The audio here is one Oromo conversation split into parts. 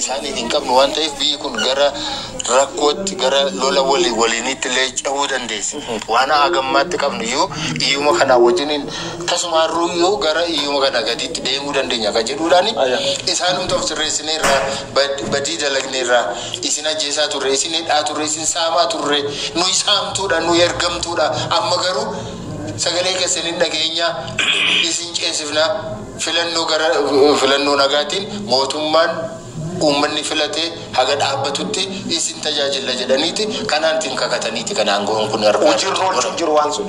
isaaniif hin qabnu waan ta'eef biyyi kun gara rakkootti gara lola walii waliiniitti illee cehuu dandeessi. Waan hagammaatti qabnu iyyuu iyyuma kanaa wajjiniin tasumaarruu iyyuu gara iyyuma kana gadiitti deemuu dandeenya kan jedhuudhaan isaanumti of sirreessinee irraa bad- badii dalagnee irraa isin ajjeesaa turre, isin hidhaa turre, isin saamaa turre, nuyi saamtuudha, nuyi ergamtuudha, amma garuu sagalee keessan hin dhageenya, isin ceesifna. Filannoo gara filannoo nagaatiin mootummaan uummanni filate haga dhaabbatutti isin tajaajilla jedhaniiti kanaantiin kakataniiti kan aangoon kun harkaa Hojiirra irratti oolchuun godhan. jiru waan sun.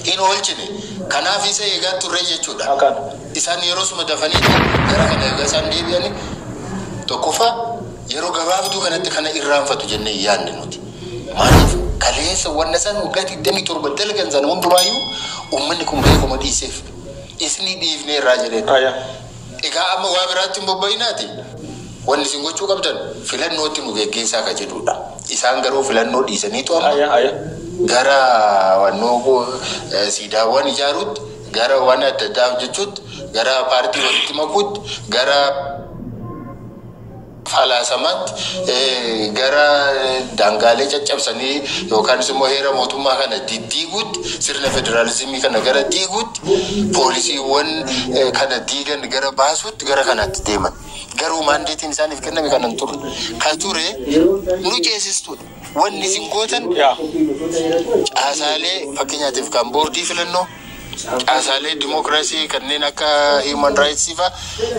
Hin oolchine. Kanaaf isa eegaa turre jechuudha. Akan. Isaan yeroosuma dafaniiti gara kana egaa isaan deebi'ani tokkoffaa yeroo gabaabduu kanatti kana irraanfatu jennee hin yaadne nuti. Maaliif kaleessa wanna isaan waggaa 27 dalgan sana hundumaayyuu uummanni kun beekuma dhiiseef. isnii dhiifneerraa jedheen. Aya. Egaa amma waa biraatti hin bobba'inaati wanni isin gochuu qabdan filannootti nu geggeessaa ka jedhuudha. Isaan garuu filannoo dhiisaniitu amma Aya. Aya. gara wannoo eh, siidaawwan ijaaruutti, gara waan adda addaa hojjechuutti, gara paartii walitti makuutti, gara falaasamaatti gara daangaalee caccabsanii yookaanis immoo heera mootummaa kana diddiiguutti, sirna federaalizimii kana gara diiguutti, poolisiiwwan kana diigan gara baasuutti gara kanaatti deeman. Garuu maandeetiin isaaniif kenname kana hin turre. Ka ture nu ceesistuudha. Wanni isin gootan caasaalee fakkeenyaatiif kan boordii filannoo, caasaalee dimokiraasii kanneen akka Human Rights fa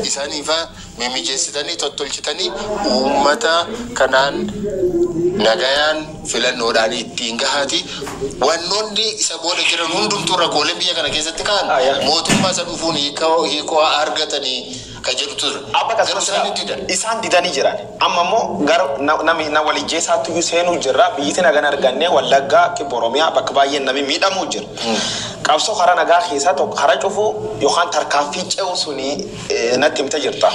isaanii fa mimijeessitanii tottolchitanii uummata kanaan nagayaan filannoodhaan ittiin gahaati. Wannoonni isa booda jiran hundumtuu rakkooleen biyya kana keessatti ka'an mootummaa isa dhufuun hiikoo argatanii ka jedhu ture. Amma gaa garuu isaan ni didan. Isaan didanii jiran. Amma immoo gara nami na wal ijjeessaatti iyyuu seenuu jirra. Biyyiti naga hin arganne Wallaggaa, Kibba Oromiyaa bakka baay'een nami miidhamuu jira. Qabsoo karaa nagaa keessaa tokko karaa cufuu yookaan tarkaanfii ce'uu suni natti himte jirta.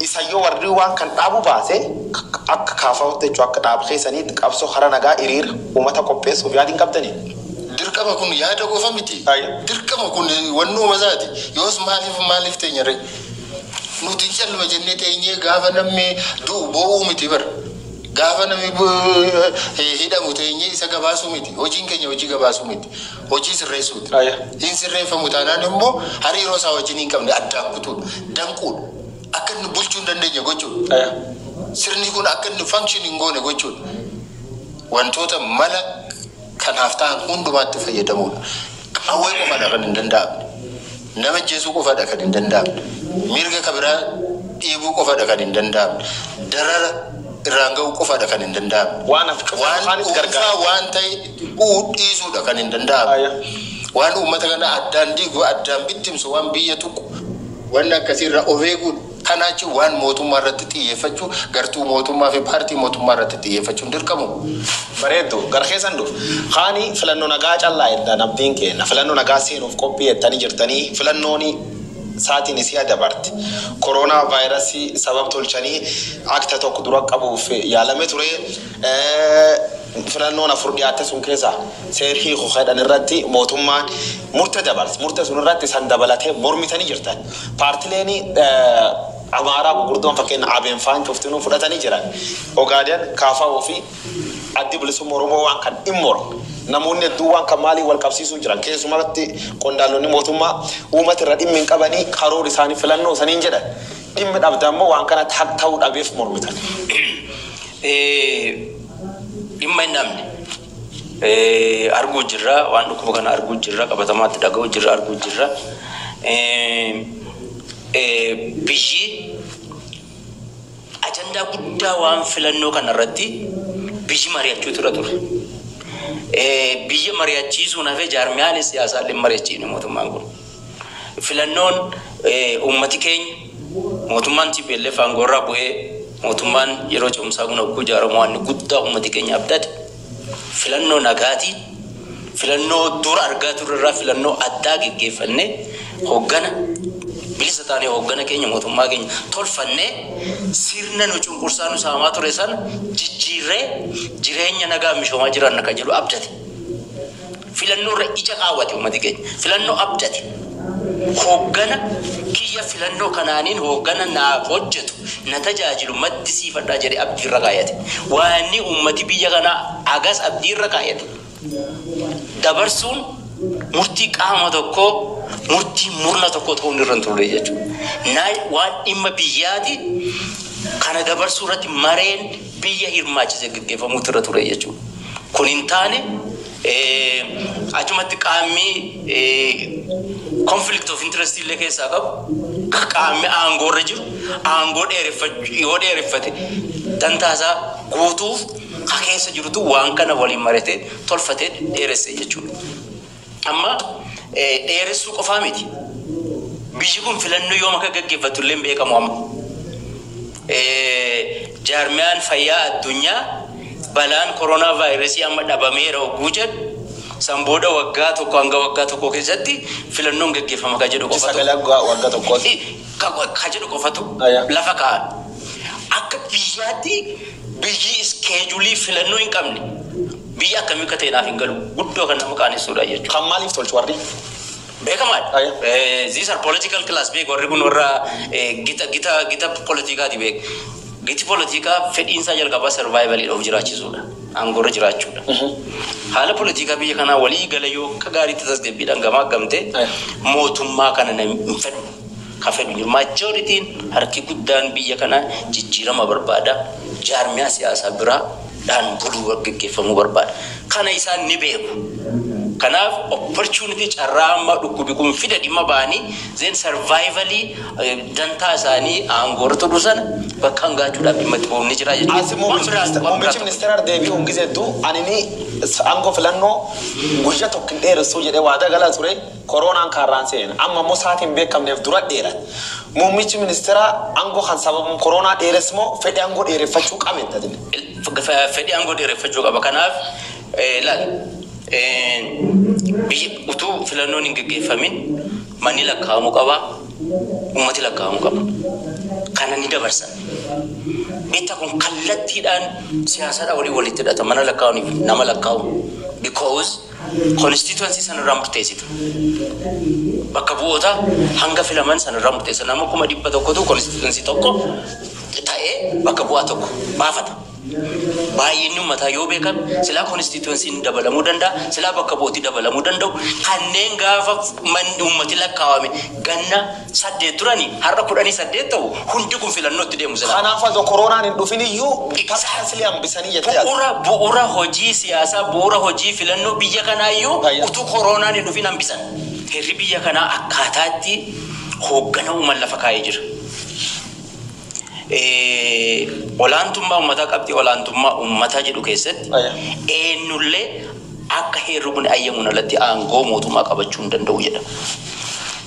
Isa yoo warri waan kan dhaabuu baate akka KFOtti jechuun akka dhaaba keessaniitti qabsoo karaa nagaa hiriira uummata qopheessuuf yaadi hin qabdanii? Dirqama kun yaada qofa miti. Dirqama kun wannuuma isaati. Yoos maaliif maaliif teenya ree? Nuti calluma jennee teenyee gaafa namni du'u boo'uu miti bar. Gaafa namni hidhamu teenyee isa gabaasuu miti. Hojiin keenya hojii gabaasuu miti. Hojii sirreessuuti. Hin sirreeffamu taanaan immoo hariiroo isaa wajjin hin qabne addaan kutuudha. Danquudha. Akka inni bulchuu hin dandeenye gochuudha. Sirni kun akka inni function hin goone gochuudha. Wantoota mala kanaaf ta'an hundumaatti fayyadamuudha. Qawwee qofadha kan hin danda'amne. Nama ajjeesuu qofadha kan hin danda'amne. Mirga ka biraa dhiibuu qofadha kan hin danda'amne. Darara irraan ga'uu qofadha kan hin danda'amne. Waan hafe cufa Waan afaanis dhuunfaa gargaara. waan ta'e itti bu'uu dhiisuudha kan hin danda'amne. Aya. Waan uummata kana addaan diigu, addaan bittimsu, waan biyya tuqu, waan akkasii irraa of eeguudha. Kanaa achi waan mootummaa irratti xiyyeeffachuu gartuu mootummaa fi paartii mootummaa irratti xiyyeeffachuun dirqamuu. Bareeddu, gara keessan dhufa. Kaani filanno nagaa callaa jettan abdiin keenna. Filanno nagaa seenuuf qophii jettani jirtani. Filannooni saatini si'a dabarte koroonaa vaayirasi sabab tolchani akta tokko dura qabuuf yaalame ture. Filannoon afur dhiyaatte sun keessa seer hiiku ka jedhan irratti mootummaan murte dabarse. Murte sun irratti isan dabalatee mormitani jirtan. Paartileeni Amaaraa gugurdoon fakkeenna Abn faan cuftinuu fudhatani jiran. Ogaden, KFO fi Addi Bilisumma Oromoo waan kan in mormu. Namoonni hedduun waan kan maaliin wal qabsiisuu jiran. Keessumarratti qondaalonni mootummaa uumati irra dhimmi hin qabani karoori isaani filannoo saniin jedhan. Dhimmi dhabdan immoo waan kanatti haq ta'uu dhabeef mormitan. Dhimma hin dhabne. arguu jirra. Waan dhukkuba kana arguu jirra. Qabatamaatti dhaga'uu jirra, arguu jirra. Biyyi ajandaa guddaa waan filannoo kana irratti biyyi mari'achuutu irra ture. Biyya mari'achiisuun hafee jaarmiyaalee siyaasaa illee mari'achiifne mootummaan kun. Filannoon uummati keenya mootummaan tplf aangoorraa bu'ee mootummaan yeroo ce'umsaa kun hogguu ijaaramu waan inni guddaa uummati keenya abdate filannoo nagaatii filannoo dura argaa turre irraa filannoo addaa geggeeffannee hoggana bilisa taanee hoggana keenya mootummaa keenya tolfannee sirna nu cunqursaa nu saamaa ture sana jijjiirree jireenya nagaa misoomaa jiraanna kan jedhu abdate. Filannoo irra ija kaawwate uummati keenya. Filannoo abdate. Hooggana kiyya filannoo kanaanin hooggana naaf hojjetu, na tajaajilu maddisiifadha jedhee abdii irra kaayate. Waanni uummati biyya kanaa hagas abdii irra kaayate dabarsuun murtii qaama tokkoo, murtii murna tokkoo ta'uun irra hin turre jechuudha. Waan dhimma biyyaati. Kana dabarsuu irratti mareen biyya hirmaachise gaggeeffamuutu irra ture jechuudha. Kun hin taane. Achumatti qaammi conflict of interest illee keessaa qabu qaammi aangoo irra jiru aangoo dheereffachuu yoo dheereffate dantaasaa guutuuf ka keessa jirutu waan kana waliin maratee tolfatee dheeresse jechuudha. Amma dheeressuu qofaa miti. Biyyi kun filannoo yoom akka gaggeeffattu illee hin beekamu amma. Jaarmiyaan Fayyaa Addunyaa balaan koronaavaayirasii amma dhabameera ogguu jedhu, san booda waggaa tokko hanga waggaa tokkoo keessatti filannoon geggeeffama ka jedhu qofatu. Ji'a sagal hanga wagga tokkootti. Ka jedhu qofatu lafa kaa'an. Akka biyyaatti biyyi iskeejulii filannoo hin qabne biyya akkamii akka ta'e naaf hin galu. Guddoo kan nama qaanessuudha jechuudha. Kan maaliif tolchu warri? Beekamaadha. These are political class beek warri kun warra gita gita gita politikaati beek. Giti politikaa fedhiinsaa jalqabaa survival of jiraachisuudha. Aangoorra jiraachuudha. Haala politikaa biyya kanaa walii gala yoo akka gaariitti tasgabbiidhaan gamaaggamte mootummaa kana na hin fedhu. Ka fedhu jiru majoritiin harki guddaan biyya kanaa jijjiirama barbaada. Jaarmiyaa siyaasaa biraa dhaan buluu gaggeggeeffamuu barbaada. Kana isaan ni beeku. Kanaaf opportunity carraa amma dhukkubi kun fida dhimma ba'anii then survival dantaa isaanii aangoo irra turuu sana bakkaan gaachuudhaaf dhimma itti ba'uun ni jira jechuudha. As Waan muummichi biraa ministeer waan muummichi biraa tokko ministeerar deebi'uun gizee hedduu anini aangoo filannoo guyya tokko hin dheeressuu jedhee waadaa galaa ture. Koroonaan kaarraan seeneen amma immoo saatii hin beekamneef dura dheerate. Muummichi ministeeraa angoo kan sababum koroonaa dheeres moo fedhi angoo dheereffachuu qabe hin tatine? Fedhi angoo dheereffachuu qaba. Kanaaf laal biyyi utuu filannoon hin geggeeffamin manni lakkaa'amuu qaba, uummati lakkaa'amuu qaba. Kana ni dabarsan. Beektaa kun kallattiidhaan siyaasaadhaa waliin walitti hidhata mana lakkaa'uuniif nama lakkaa'u because Constituency san irraa murteessita. Bakka bu'oota hanga filaman san irraa murteessa. Nama kuma dhibba tokkotu constituency tokko ta'ee bakka bu'aa tokko baafata. Baay'inni ummataa yoo beekame silaa constituency ni dabalamuu danda'a, silaa bakka bu'ooti dabalamuu danda'u. Kanneen gaafa manni ummati lakkaawame ganna 8 turani har'a kudhanii 8 ta'u hundi kun filannootti deemu silaa. Kanaaf adoo koroonaan hin dhufin iyyuu tarkaanfilee hambisanii jettee yaadda? Bu'ura bu'ura hojii siyaasaa bu'ura hojii filannoo biyya kanaa iyyuu utuu koroonaan hin dhufin hambisan. Heerri biyya kanaa akkaataa itti hooggana uuman lafa kaa'ee jira. Olaantummaa uummataa qabxii olaantummaa uummataa jedhu keessatti eennullee akka heerri kun ayyamuun alatti aangoo mootummaa qabachuu hin danda'u jedha.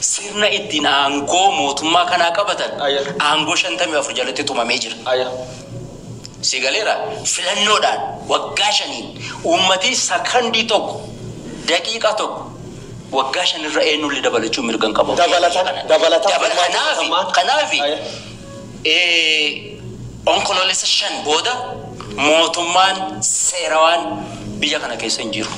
Sirna ittiin aangoo mootummaa kanaa qabatan Ayya. aangoo 54 jalatti tumamee jira. Aya. Si galeera filannoodhaan waggaa shaniin uummatii sakandii tokko daqiiqaa tokko waggaa shanirra eenyullee dabalachuu mirga hin qabu. Dabalatan- dabalatan- Dabala- kanaafi- Dabalatan- kanaafi Aya. Onkoloolessa 5 booda mootummaan seerawaan biyya kana keessa hin jiru.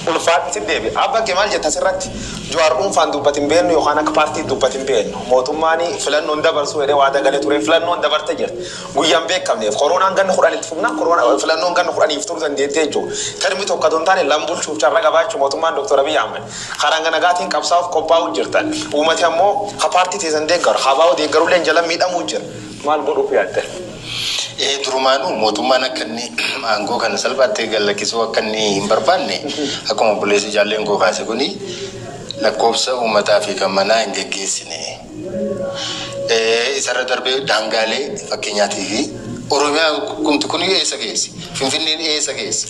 Ulfaadhu sitti deebi'a. Abba kee maal jette asirratti? Juwaar dhuunfaan dubbate hin beennu yookaan akka paartiitti dubbate hin beennu. Mootummaan filannoo hin dabarsu jedhee waadaa galee ture. Filannoon dabarte jirti. Guyyaa hin beekamneef. Koroonaan ganna 10 itti fufnaan koroonaa filannoon ganna 10f turu dandeetti jechuudha. Termii tokko otoo hin taane lam bulchuuf carra qabaachuu mootummaan Dr. Abiy Ahmed. Ka ranga nagaatiin qabsaa'uuf qophaa'uu jirtan, uumati ammoo ka paartii teessan deeggaru, abo deeggarulleen jala miidhamuu jira. Maal godhuuf yaaddan? Ee, durumaanuu mootummaan akka inni aangoo kana salphaatti gad lakkisuu akka inni hin barbaanne akkuma obboleessi Jaalleen koo kaase kuni lakkoofsa uummataa fi kan manaa hin geggeessine. Isarra darbee daangaalee fakkeenyaatiif Oromiyaan kumti kun eessa geessi? Finfinneen eessa geessi?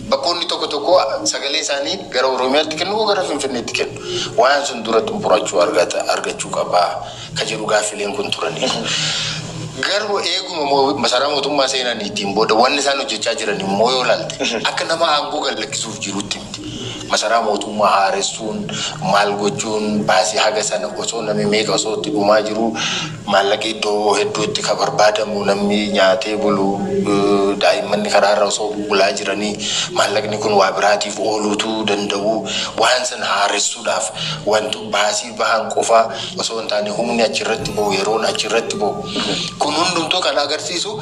Bakkoonni tokko tokko sagalee isaanii gara Oromiyaatti kennu moo gara Finfinneetti kennu? Waan sun dura xumurachuu argata argachuu qabaa ka jedhu gaaffileen kun turaniiru. Garuu eeguma moo- masaraa mootummaa seenaniitiin booda wanni isaan hojjechaa jiran immoo yoo ilaalte akka nama aangoo gad lakkisuuf jirutti Masaraa mootummaa haaressuun, maal gochuun, baasii haga sana osoo namni meeqa osoo itti dhumaa jiruu, maallaqi iddoo hedduutti ka barbaadamu, namni nyaatee bulu, daa'immanni karaarra osoo bulbulaa jiranii, maallaqni kun waa biraatiif ooluu utuu danda'uu, waan sana haaressuudhaaf wanto baasii bahan qofaa osoo hin taane humni achirratti bahu, yeroon achirratti bahu, kun hundumtuu kan agarsiisu,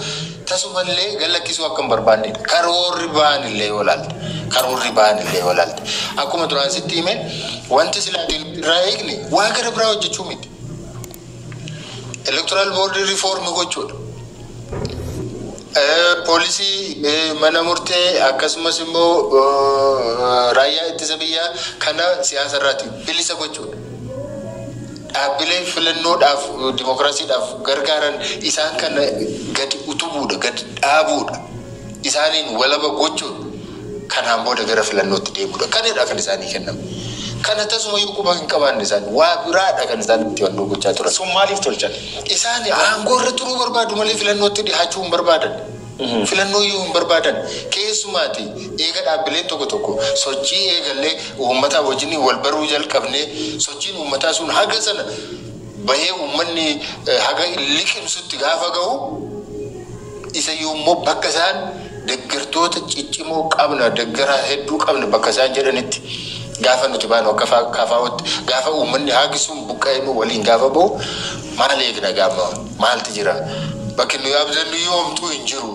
Tasumallee gad lakkisuu akka hin barbaanne dha. Karoorri ba'an illee yoo ilaalte, karoorri ba'an illee yoo ilaalte, akkuma duraan sitti hime wanti silaa ati nuti irraa eegne waa gara biraa hojjechuu miti. Electoral board reform gochuu dha. Eh, Poolisii, eh, mana murtee akkasumas immoo eh, raayyaa ittisa biyyaa kana siyaasa irraati bilisa gochuu dha. Dhaabbilee filannoodhaaf, dimokiraasiidhaaf gargaaran isaan kana gadi utubuudha, gad dhaabuudha, isaaniin walaba gochuun kanaan booda gara filannootti deemuudha. Kanadha kan isaanii kenname. Kana tasumayyuu quba hin qabaanne isaan. Waa biraadha kan isaan itti wannoo gochaa turan. Sun maaliif tolchan? Isaan aangoorra turuu barbaadu malee filannootti dhihaachuu hin barbaadan. Filannoo yoo hin barbaadan keessumaati eega dhaabbileen tokko tokko sochii eegallee uummataa wajjin wal baruu jalqabnee sochiin uummataa sun haga sana bahee uummanni haga liqimsutti gaafa gahu isa yoommoo bakka isaan deggertoota ciccimoo qabna deggeraa hedduu qabna bakka isaan jedhanitti gaafa nuti baanu akka KFOtti gaafa uummanni haagi sun buqqa'ee nu waliin gaafa bahu maal eegna gaamma Maalti jira? Bakki nuyi abdannuyyuu homtuu hin jiru.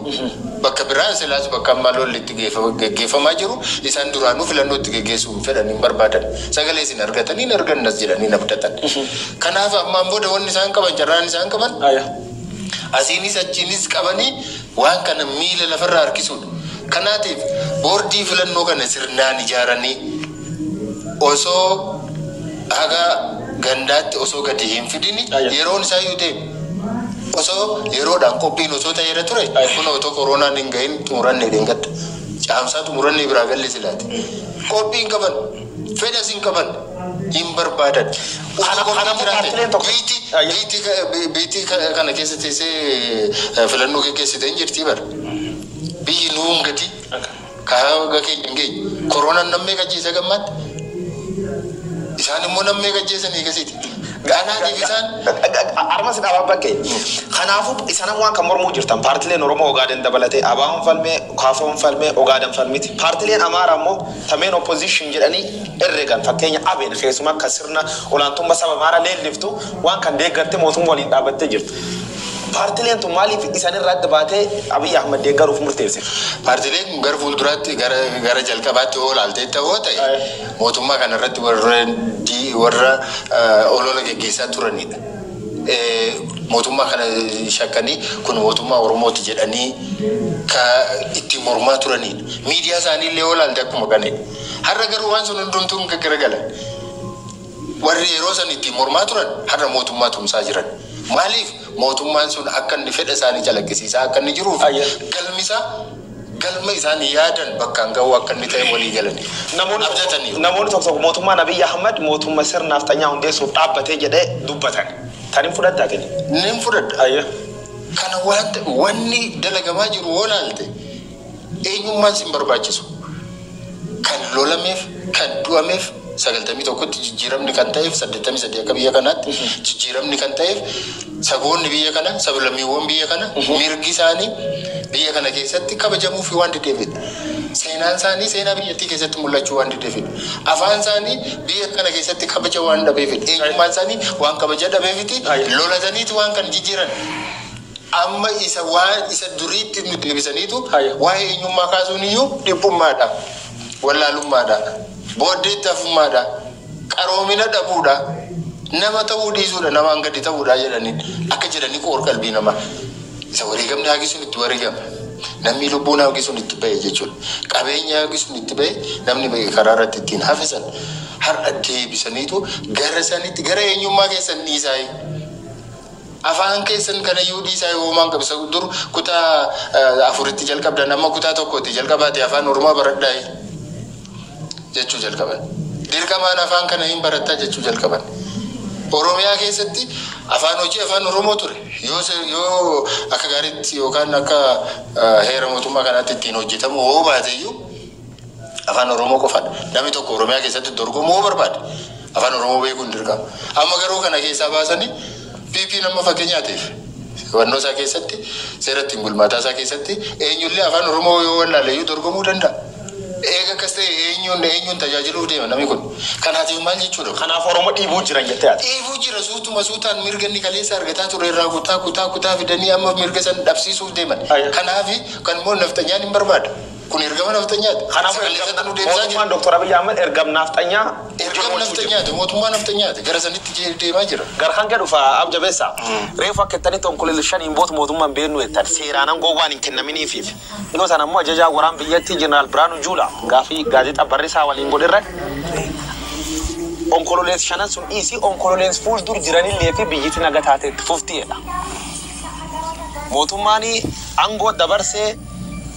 Bakka biraan silaas bakka amma lolli itti geeffa- geggeeffamaa jiru isaan duraanuu filannoo itti geggeessuu hin fedhan hin barbaadan. Sagalee isin argatanii hin argannas jedhanii hin abdatan. Kanaaf ammaan booda wanni isaan qaban carraan isaan qaban Aya. asiinis achiinis qabanii waan kana miila lafarraa harkisuudha. Kanaatiif boordii filannoo kana sirnaan ijaaranii osoo haga gandaatti osoo gadi hin fidini Ayya. yeroon isaa iyyuu deeme. Osoo yeroodhaan qophiin osoo ta'eera ture Ayya. kun otoo koroonaan hin gahin xumuranne dheengadda. Caamsaa xumurannee biraa galle silaate. Qophii hin qaban. Fedhas hin qaban. Hin barbaadan. Osoo Kana- qophiin kanaafuu jiraate, paartileen tokko- biiti Ayya. biiti ka- bi- biiti ka- kana keessa teessee eh, filannoo geggeessite hin jirti bara. Biyyi nuun gadi. Karaa waggaa keenya hin geenye. Koroonaan nam meeqa ajjeese haga ammaatti? Isaan immoo nam meeqa ajjeesan eegasiiti. Anaatiif isaan Armas dhaabaa bakkee. Kanaafuu isan ammoo akka mormuu jirtan paartileen Oromoo Ogaaden dabalatee ABOn falmee, KFOn falmee, Ogaaden falmiti. Paartileen Amaaraa immoo ta main opposition jedhanii herregan fakkeenya ABn keessumaa ka sirna olaantumma saba Amaaraa leelliftu Waan kan deeggartee mootumma waliin dhaabbattee jirtu. Paartileen tun maaliif isan irraa adda baatee Abiy Ahmad deeggaruuf murteessite? Paartileen kun gara fuulduraatti gara jalqabaatti hoo laalteetta hoo ta'e mootummaa kana irratti warra olola geggeessaa turanidha. Mootummaa kana shakkanii kun mootummaa Oromooti jedhanii ka ittiin mormaa turanidha. Miidiyaa isaanii illee hoo laalte akkuma kanidha. Har'a garuu waan sun hundumtuu hin garagalan. Warri yeroo san ittiin mormaa turan har'a mootummaa tumsaa jiran. Maaliif? Mootummaan sun akka inni fedha isaanii calaqqisiisaa akka inni jiruu fi galmi isaa galma isaan yaadan bakkaan gahuu akka inni ta'e walii galanii, abdataniiru. Namoonni tokko tokko mootummaan Abiy Ahmad mootumma sirna nafxanyaa hundeessuuf dhaabbate jedhee dubbatan. Tan hin fudhatta atini? Nin fudhadha. Kana waan ta'e wanni dalagamaa jiru hoo laalte, Eenyummaan sin barbaachisu. Kan lolameef, kan du'ameef 91tti jijjiiramni kan ta'eef 83 akka biyya kanaatti jijjiiramni kan ta'eef saboonni biyya kana, sablammiiwwan biyya kana mirgi isaanii biyya kana keessatti kabajamuufi waan dideefidha. Seenaan isaanii seenaa biyyattii keessatti mul'achuu waan dideefidha. Afaan isaanii biyya kana keessatti kabaja waan dhabeefidha. Eenyummaan isaanii waan kabaja dhabeefiti Ayya. lolataniiti waan kan jijjiiran. Amma isa waan isa duriitti nu deebisaniitu waa'ee eenyummaa kaasuun iyyuu dhiphummaa dha, wallaalummaa dha, booddeetti hafummaa dha, qaroomina dhabuu dha, nama ta'uu dhiisuu dha, namaan gadi ta'uu dha jedhaniin akka jedhanii qoor-qalbii namaa isa wareegamni hagi sun itti wareegame, namni lubbuun hangi sun itti ba'e jechuu dha, qabeenyi hangi sun itti ba'e, namni ba'e karaa irratti ittiin hafe sana har'a deebisaniitu gara sanitti, gara eenyummaa keessan dhiisaayii. Afaan keessan kanayyuu dhiisaa yoo homaa hin qabu isa dur kutaa afuritti jalqabdan amma kutaa tokkooti jalqabaati afaan oromaa baradhaayi jechuu jalqaban dirqamaan afaan kana hin barattaa jechuu jalqaban oromiyaa keessatti afaan hojii afaan oromoo ture yoo se- yoo akka gaariitti yookaan akka eh, heera mootummaa kanaatti ittiin hojjetamu hoo baateyyuu Afaan Oromoo qofaadha. Namni tokko Oromiyaa keessatti dorgomuu yoo barbaade afaan Oromoo beekuun dirqama. Amma garuu kana keessaa baasanii PP nama fakkeenyaatiif hubannoo isaa keessatti seera ittiin bulmaataa isaa keessatti eenyullee afaan Oromoo yoo wallaale iyyuu dorgomuu danda'a. Eega akkas ta'e eenyuun eenyuun tajaajiluuf deema namni kun. Kanaatiif maal jechuudha? Kanaaf Oromoo dhiibuu jiran jettee ati. Dhiibuu jira suutuma suutaan mirga inni kaleessa argataa ture irraa kutaa kutaa kutaa fidanii amma mirga san dhabsiisuuf deeman. Kanaaf kan immoo nafxanyaan hin barbaada. Kun ergama nafxanyaati. Kanaafuu ergamna mootummaan Doktar Abiy Ahmed ergam naafxanyaa Ergam nafxanyaati mootummaa nafxanyaati gara sanitti jee deemaa jira. Gar kanke dhufa Ab Jabesa. Reefu akka jettanitti Onkololessa 5 hin bootu mootummaa hin beeknu jettan. Seeraan angoon waan hin kennaminiifiif. Dhiyoo tana ammoo ajajaan waraan biyyattii Jeneraal Biraanuu Juulaa gaafii Gaazexaa Barrisaa waliin godhe irratti Onkololeessa shanan sun dhiisii Onkololeens fuuldur jiranillee fi biyyiti naga taatee itti fufti jedha. Mootummaani angoo dabarsee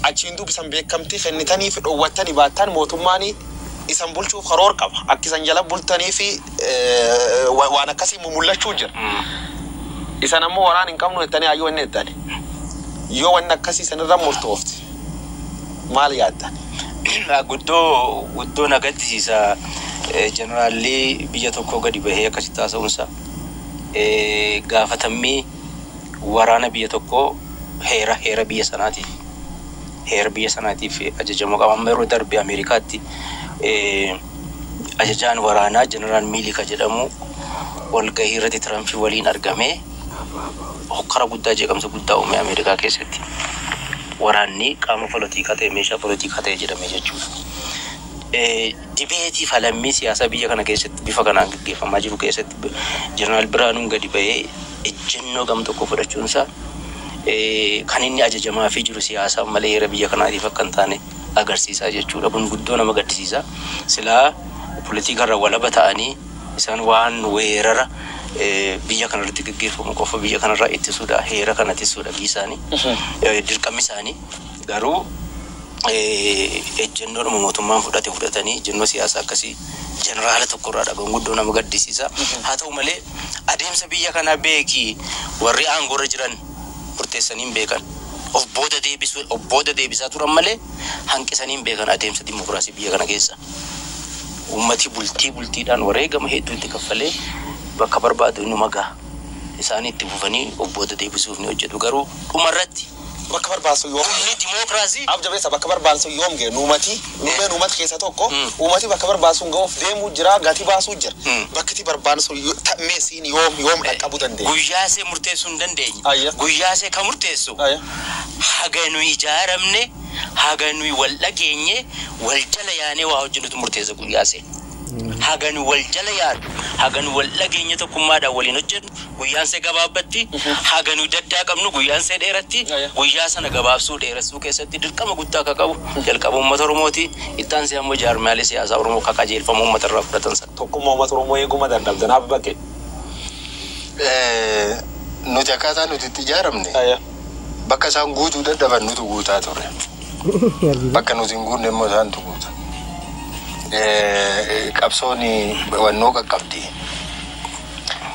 achiin duub isan beekkamtii kennitaniifi dhowwattani baattaan mootummaani isan bulchuuf karoor qaba. Akki isan jala bultaniifi waan akkasii mumullachuu jira. Isan ammoo waraan hin qabnuu jettanii haayyu wanni jettani. Yoo wanni akkasii isan irra murtoofte maal yaaddan? Guddoo guddoo na gaddisiisa jeneraalli biyya tokkoo gadi bahee akkasitti haasa'uunsaa. Gaafatammii waraana biyya tokkoo heera heera biyya sanaatiif heera biyya sanaatiif ajajamuu qaba. Amma yeroo darbe Ameerikaatti eh, ajajaan waraanaa Jeneraal Miilika jedhamu walgahii irratti Tirampii waliin argamee hokkara guddaa jeeqamsa guddaa uume Ameerikaa keessatti. Waraanni qaama polotiikaa ta'e meeshaa polotiikaa ta'e jedhame jechuudha. Eh, Dibeetii falammii siyaasaa biyya kana keessatti bifa kanaan gaggeeffamaa jiru keessatti Jeneraal Birhaanuun gadi bahee ejjennoo gam tokkoo fudhachuun isaa kan inni ajajamaafii jiru siyaasaaf malee heera biyya kanaatiif akka hin taane agarsiisa jechuu dha. Kun guddoo nama gaddisiisa. Silaa polotikaa irraa walaba ta'anii isaan waan weerara biyya kana irratti gaggeeffamu qofa biyya kana irraa ittisuu dha, heera kana tissuu dha biyyi isaanii dirqammi isaanii. Garuu ejjennoodhuma mootummaan fudhate fudhatanii ejjennoo siyaasaa akkasii jeneraala tokko irraa dhaga'uun guddoo nama gaddisiisa. Haa ta'u malee adeemsa biyya kanaa beeki warri aangoo irra jiran murteessanii hin beekan. Of booda deebisuu of booda deebisaa turan malee hanqisanii hin beekan adeemsa dimokiraasii biyya kana keessa. Uummati bultii bultiidhaan wareegama hedduu itti kaffalee bakka barbaadu inuma gaha. Isaanii itti fufanii of booda deebisuuf ni hojjetu. Garuu dhuma irratti. bakka barbaan sun yoom Fuulli dimookiraasii. Dhaab jabeessa bakka barbaan sun yoom ga'e nuumati nuumeen uumata keessa tokko uumati bakka barbaan sun ga'uuf deemuu jira gati baasuu jira bakkiti barbaan sun yo ta mee siin yoom yoom dhaqqabu dandeenye. Guyyaa see murteessuu hin dandeenye Ayya. guyyaa see ka murteessu Ayya. haga nuyi ijaaramne haga nuyi wal dhageenye wal jala yaanee waa hojjennutu murteessa guyyaa see. Haga nu wal jala yaanu, haga nu wal dhageenyee tokkummaadhaan waliin hojjennu, guyyaan see gabaabbatti, haga nu daddaaqamnu guyyaan see dheeratti, guyyaa sana gabaabsuu, dheeressuu keessatti dirqama guddaa ka qabu jalqaba uummata Oromooti, itti aansee ammoo jaarmiyaalee siyaasaa Oromoo ka qajeelfama uummata irraa fudhatan san. Tokkummaa uummata Oromoo eeguu ma dandhamta? Naaf baqqee. Nuti akkaataa nuti itti ijaaramne bakka isaan guutuu dadhaban nutu guutaa turre. Bakka nuti hin guunne immoo isaantu guuta. Eh, Qabsoon wannoo qaqqabdi.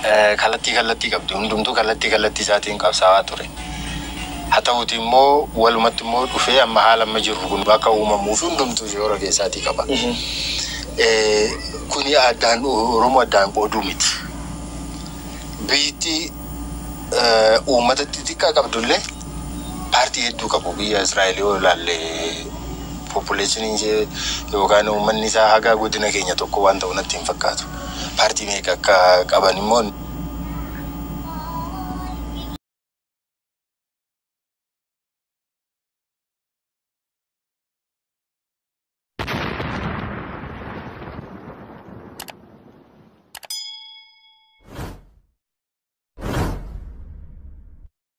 Eh, Kallattii kallattii qabdi. Hundumtuu kallattii kallattii isaatiin qabsaawaa ture. Haa ta'uuti immoo walumatti immoo dhufee amma haala amma jirru kun akka uumamuu fi hundumtuu shoora keessaatii qaba. Eh, Kuni addaan Oromoo addaan qooduu miti. Biyyittii eh, uummata xixiqqaa qabdullee Paartii hedduu qabu biyya Israa'el yoo ilaalle population ishee yookaan uummanni isaa haga godina keenya tokko waan ta'u natti hin fakkaatu. Paartii meeqa akka qaban immoo.